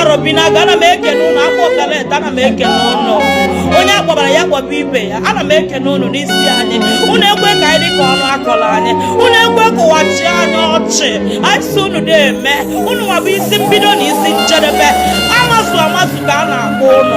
arọbinagụ ana m ekene ụnụ akpụ ọkalete ana m ekene ụnụ onye akpọbara ya kpọba ibe ya ana m ekene ụnụ n'isi anyị ụnụ ekwe ka anyị dịka ọnụ akọrọ anyị ụnụ ekwe ka ụwa chịa anyị ọchị anyị sị ụnụ na-eme ụnụ nwa bụ isi mbido na isi njedebe amazu amazu ka a na-akpọ ụnụ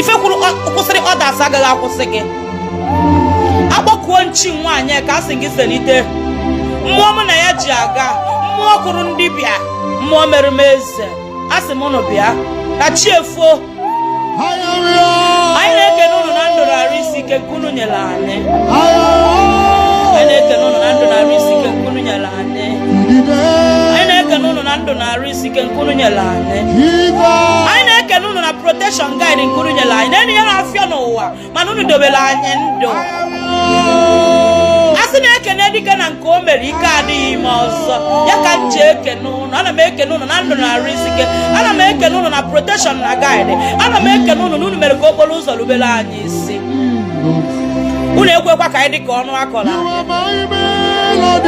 ife kwuru kwụsịrị others agaghị akwụsị gị akpọkuo m chi nwaanyị ka a sị gị selite mmụọ mụ na ya ji aga mmụọ kụrụ m dibịa mmụọ mere m eze a sị m ụnụ bịa ka chi efoo anyị na-ekene ụnụ na ndụ na arụ isi ike nke unu nyere anyị anyị na-ekene ụnụ na ndụ na arụ isi ike nke unu nyere anyị anyị na-ekene ụnụ na ndụ na arụ isi ike nke unu nyere anyị anyị na-ekene unu na protection guide nke unu nyere anyị na-enye ya na-afịa n'ụwa mana unu dobere anyị ndụ a sị na e kene dike na nke o mere ike adị ya ime ọzọ ya ka m ji ekene ụnụ ana m ekene ụnụ na ndụ na arụ isi ike ana m ekene ụnụ na protection na guide ana m ekene ụnụ na unu mere ka okporo ụzọ rubere anyị isi unu ekwekwa ka anyị dị ka ọnụ akọla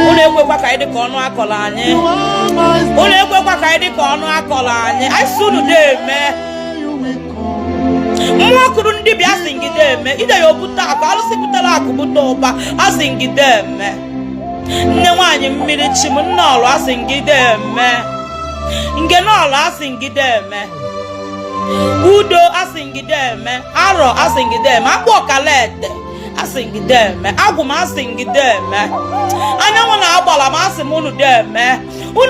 unu ekwekwa ka anyị dị ka ọnụ akọla anyị unu ekwekwa ka anyị dị ka ọnụ akọla anyị anyị sị unu na-eme mmụọ kụrụ m dibịa asị m gị deeme ide ya obute akụ alụsị butere akụ bute ụba asị m gị deeme nne nwaanyị mmiri chi m nne ọlụ asị m gị deeme ngene ọlụ asị m gị deeme udo asị m gị deeme arọ asị m gị deeme akpụ ọkalete asị m gị deeme agwụ m asị m gị deeme anyanwụ na agbala m asị m unu deeme